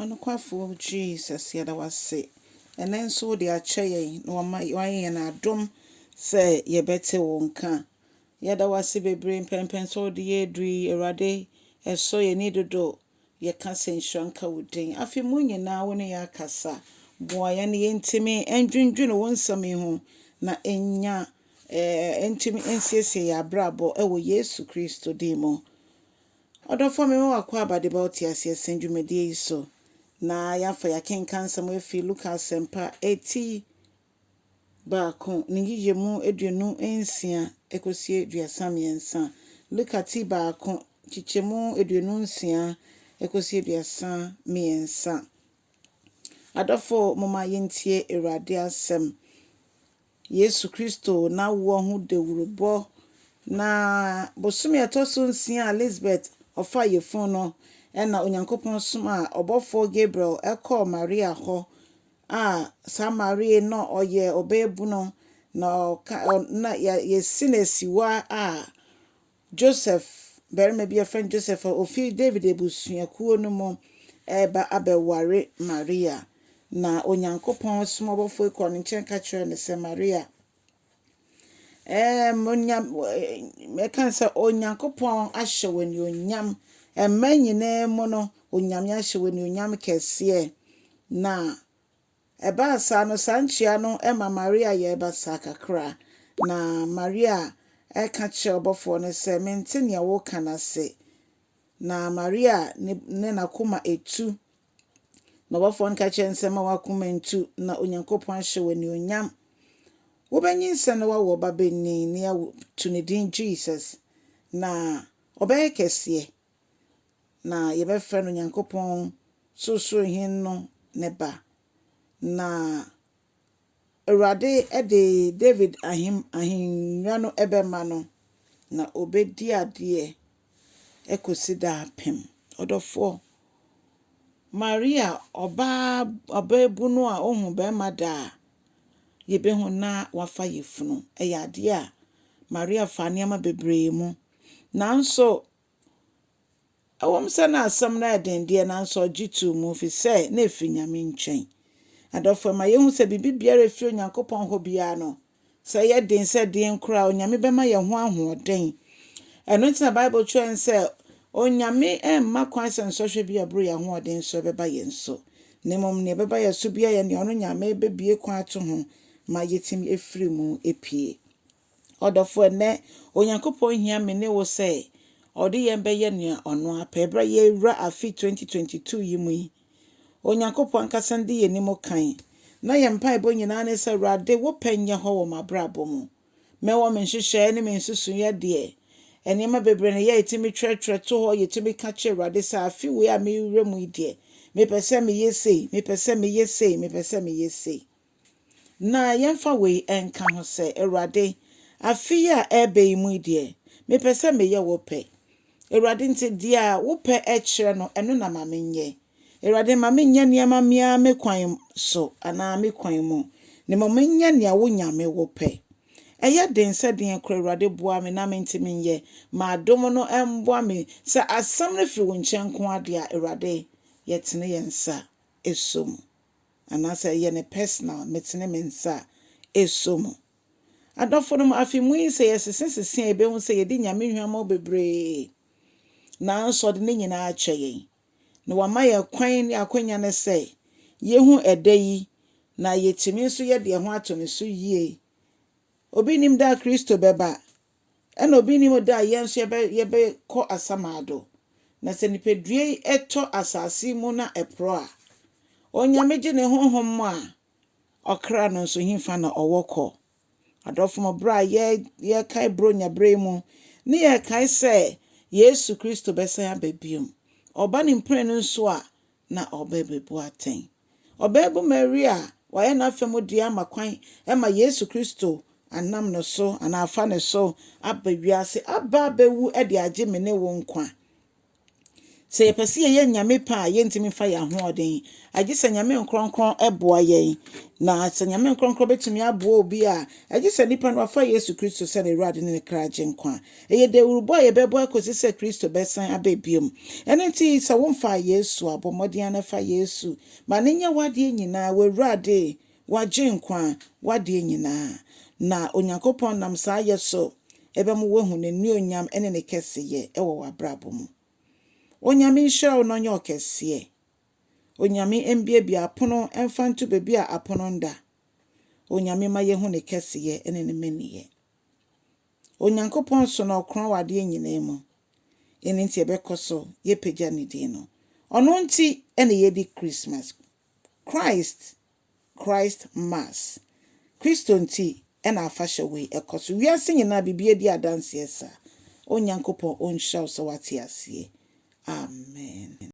Ɔnokwafo Jesus, yɛda wo ase ɛnnɛ nso wode akyɛ yɛn na wama wayɛ yɛn adom sɛ yɛbɛte wo nka. Yɛda wo ase bebree mpɛnpɛn sɛ wode yɛ aduru yi, Awurade, ɛsɔ yɛn ani dodo. Yɛka sɛ nhyira nka wo din. Afe mu nyinaa wo ne yɛn akasa. Boa yɛn na yɛntumi ndwendwene wo nsɛm yi ho na ɛnya ɛɛ ɛntumi nsiesie yɛn abrabɔ ɛwɔ Yesu Kristo din mu. Ɔdɔfo a mema wo akwaaba de bɛwo te aseɛ sɛn dwumadie yi so na yɛafa yɛakenkan nsɛm afi Luka Asɛmpa eti baako ne nyiyiemu aduonu nsia ɛkɔsie aduasa mmiɛnsa, Luka ti baako nkyekyɛmu aduonu nsia ɛkɔsie aduasa mmiɛnsa. Adɔfo, momma yɛntie Awurade asɛm. Yesu Kristo n'awoɔ ho dawurubɔ. Na bosome a ɛtɔ so nsia a Lisbet ɔfaa yefunu no na Onyankopɔn somaa ɔbɔfoɔ Gabriel kɔɔ Maria hɔ a saa Maria no ɔyɛ ɔbaabunu na ɔka na yɛasi no asiwa a Joseph, barima bi a wɔfrɛ no Joseph a ofi Dawid abusuakuo no mu reba abɛware Maria, na Onyankopɔn som ɔbɔfoɔ yi kɔɔ ne nkyɛn ka kyerɛɛ no sɛ, Maria, ɛɛm, onya, ɛka sɛ Onyankopɔn ahyɛ wo anuonyam, mma nyinaa mu no, Onyame ahyɛ wo anuonyam kɛseɛ, na Ɛbaa saa no, saa nkyia no ma Maria yɛɛ basaa kakra, na Maria ka kyerɛɛ ɔbɔfoɔ no sɛ, Mente deɛ woreka no ase. Na Maria ne n'akoma tu, na ɔbɔfoɔ no ka kyerɛɛ no sɛ, Mma w'akoma ntu, na Onyankopɔn ahyɛ wo anuonyam. Wobɛnyinsɛn na woawo ɔbabanin, na yɛato no din Jesus, na ɔbɛyɛ kɛseɛ. na yɛbɛfrɛ no Nyankopɔn Sorosoro Hen no ne ba. Na Awurade de David ahem ahennwa no bɛma no, na ɔbɛdi adeɛ kɔsi daapem. Ɔdɔfoɔ, Maria, ɔbaa ɔbaabunu a ɔhu barima da a, yɛbɛhu na wafa yafunu. Ɛyɛ adeɛ a Maria faa nneɛma bebree mu. Nanso, Ɛwom sɛ na asɛm no ayɛ den deɛ, nanso ɔgye too mu, ɛfiri sɛ na ɛfiri Nyame nkyɛn. Adɔfo, ɛma yɛhu sɛ biribi biara a ɛfiri Onyankopɔn hɔ biara no, sɛ ɛyɛ den, sɛ ɛdeɛn koraa, Onyame bɛma yɛn ho ahoɔden. Ɛno nti na Bible kyerɛ yɛn sɛ, Onyame mma kwan sɛ nsɔhwɛ bi a ɛboro yɛn ahoɔden so bɛba yɛn so, na mmom nea ɛbɛba yɛn so biara yɛ nea ɔno Nyame bɛbue kwan ato ho ma yɛatumi afiri mu apue. Ɔdɔfo, ɛnnɛ, Onyankopɔn hia me ne wo sɛ Ɔde yɛn bɛyɛ nea Ɔno ara pɛ. Bere a yɛrewura afe 2022 yi mu yi, Onyankopɔn ankasa no di yɛn anim kan, na yɛn mpaebɔ nyinaa ne sɛ, Awurade, wo pɛ nyɛ hɔ wɔ m'abrabɔ mu. Mɛwɔ me nhyehyɛe ne me nsusuiɛ deɛ. Nneɛma bebree na yɛtumi twerɛtwerɛ to hɔ, yɛtumi ka kyerɛ Awurade sɛ, Afe wei a merewura mu yi deɛ, mepɛ sɛ meyɛ sei, mepɛ sɛ meyɛ sei, mepɛ sɛ meyɛ sei. Na yɛmfa wei nka ho sɛ, Awurade, afe yi a ɛreba yi mu yi deɛ, mepɛ sɛ meyɛ wo pɛ. Awurade, nti deɛ wo pɛ kyerɛ no, ɛno na ma menyɛ. Awurade, mma mennyɛ nneɛma me ara me kwan so anaa me kwan mu, na mmom menyɛ nea wo Nyame wo pɛ. Ɛyɛ den sɛ deɛn koraa, Awurade, boa me na mentumi nyɛ. Ma adom no mmoa me sɛ asɛm no firi wo nkyɛn nko ara deɛ a, Awurade, yɛtene yɛn nsa so mu. anaasɛ ɛyɛ no personal, metene me nsa a, ɛsɔ mu. Adɔfonom, afe mu yi sɛ yɛsese sese a yɛbɛhu sɛ yɛdi Nyame hwammɔ bebree, nanso ɔde ne nyinaa akyɛ yɛn, na wama yɛn kwan ne akwanya no sɛ yɛhu ɛda yi na yɛtumi nso yɛde yɛn ho ato no so yie. Obi nnim da a Kristo bɛba, Ɛna obi nnim da a yɛn nso yɛbɛ yɛbɛkɔ asamado. Na sɛ nipadua yi tɔ asase yi mu na ɛporɔ a, Onyame gye ne honhom mu a, ɔkra no nso hefa na ɔwɔ kɔ? Adɔfo mo berɛ a yɛ yɛkae Buronya berɛ yi mu ne yɛkae sɛ Yesu Kristo bɛsan aba biom, Ɔba ne mprenu nso a, na ɔrebebu atɛn. Ɔbaabun Maria a wɔayɛ n'afa mu dea ama kwan ma Yesu Kristo anam no so anaa afa no so aba wiase aba abewu de agye me ne wo nkwa. Sɛ yɛpɛ sɛ yɛyɛ Nyame pɛ a, yɛntumi mfa yɛn ahoɔden, agye sɛ Nyame Nkorɔnkorɔn boa yɛn. Na sɛ Nyame Nkorɔnkorɔn betumi aboa obi a, agye sɛ nipa no wafa Yesu Kristo sɛ n'Awurade ne ne kra Agyenkwa. Ɛyɛ dawurubɔ a yɛbɛbɔ akosi sɛ Kristo bɛsan aba bio. Ɛno nti, sɛ womfaa Yesu a, bɔ mmɔden ara na fa Yesu. Ma no nyɛ w'adeɛ nyinaa, w'Awurade, w'Agyenkwa, w'adeɛ nyinaa. Na Onyankopɔn nam saa yɛ so bɛma woahu N'anuonyam ne Ne kɛseyɛ wɔ w'abrabɔ mu. Onyame nhyira wo na Ɔnyɛ wo kɛseɛ. Onyame mbiabia apono mfa nto baabi a apono nda. Onyame ma yɛhu Ne kɛseyɛ ne Ne mmaniyɛ. Onyankopɔn so na ɔkorɔn wɔ adeɛ nyinaa mu. Ɛno nti yɛbɛkɔ so yɛpagya Ne din no. Ɔno nti na yɛdi Christmas, Christ, Christ Mass. Kristo nti na afahyɛ wei ɛkɔ so. Wiase nyinaa biribiara di adanseɛ saa. Onyankopɔn ɔnhyira wo sɛ woate aseɛ. Amen.